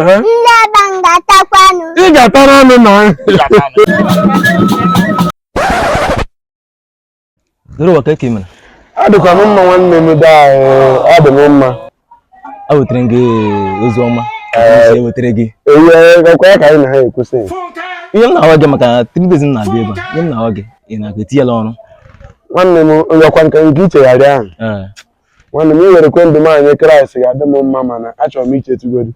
Ee? Ndị aba m ga-atakwa anụ. ị ga-atara anụ na Doro ụwa ka eke mere. adịkwa m mma nwanne m daa ọ dị m mma Ewetara m gị ozi ọma. Ee. Ewetara gị. ewe gakwa ya ka anyị na ha ekwusị Ihe m na-agwa gị maka three days m na-abịa ebe a. Ihe m na-agwa gị. Ị na-aga etinyela ọrụ. nwanne m ngakwa nke nke ichegharị ahụ Ee. nwanne m iwere kwa ndụ m nye kraịst ga-adị m mma mana achọrọ m ichetugodu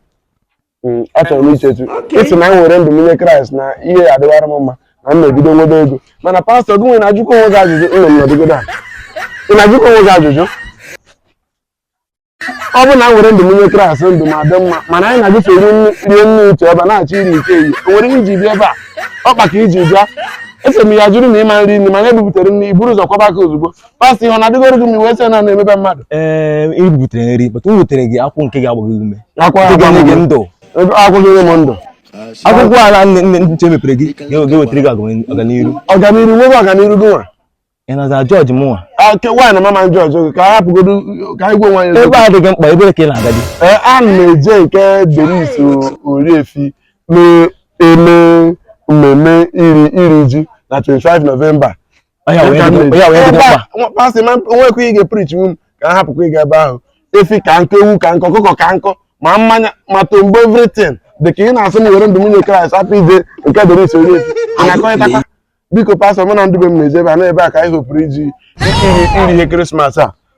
Mm, achọrọ m ichetu ịsị na m were ndụ m nye kraịst na ihe ya adịwara m mma na m na-ebido nwebe ego mana pastọ gị nwere ajụkwa onwe gị ajụjụ ịnọ m nọdụgodo a ị na-ajụkwa onwe gị ajụjụ ọ bụ na m were ndụ m nye kraịst ndụ m adị mma mana anyị na-agụfe rie nne rie nne uche ọba na-achọ iri nke eyi o nwere ihe iji bịa ebe a ọkpa ka iji bịa ese m ya jụrụ na ị ma-eri nri mana ebubutere m na iburu ụzọ kwọba aka ozugbo pastọ ihe ọ na-adịgoro gị ma iwe sị na na-emebe mmadụ ee e butere nri but m wetere gị akwụkwọ nke ga-agba gị ume akwa nke ga-enye gị ndụ akwụghị onye m ndụ akwụkwọ ala nne nne nche mepere gị ga-ewetara gị agam- ọganiru ọganiru nwebe ọganiru gị nwa ị na-aza jọji mụnwa ake nwaanyị na mama jọjọ gị ka a hapụgodu ka anyị gwa nwaanyị ebe a adịghị mkpa ebee ka ị na-aga dị ee a na-eje nke denis oriefi na-eme mmemme iri iri ji na 25 nọvemba pastọ ma nwekwa ị ga-eprichi m ka a hapụkwa ịga ebe ahụ efi ka nkọ ewu ka nkọ ọkụkọ ka nkọ ma mmanya ma tombo everything dị ka ị na-asị m were ndụ m nye kraịst hapụ ije nke dịrị isi onye isi na-akọrịtakwa biko pastọ mụ na ndị be m na-eje ebe a na ebe a ka anyị hopụrụ iji iri ihe krismas a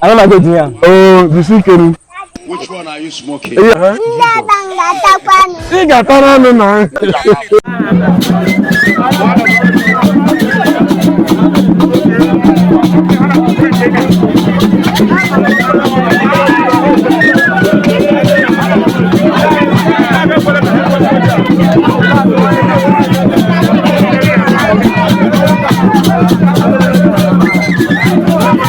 Ana na goji ya. Oh, bisi kenu. Which one are you smoking? Ndị aba ga-atakwa anụ. Ị ga-atara anụ na.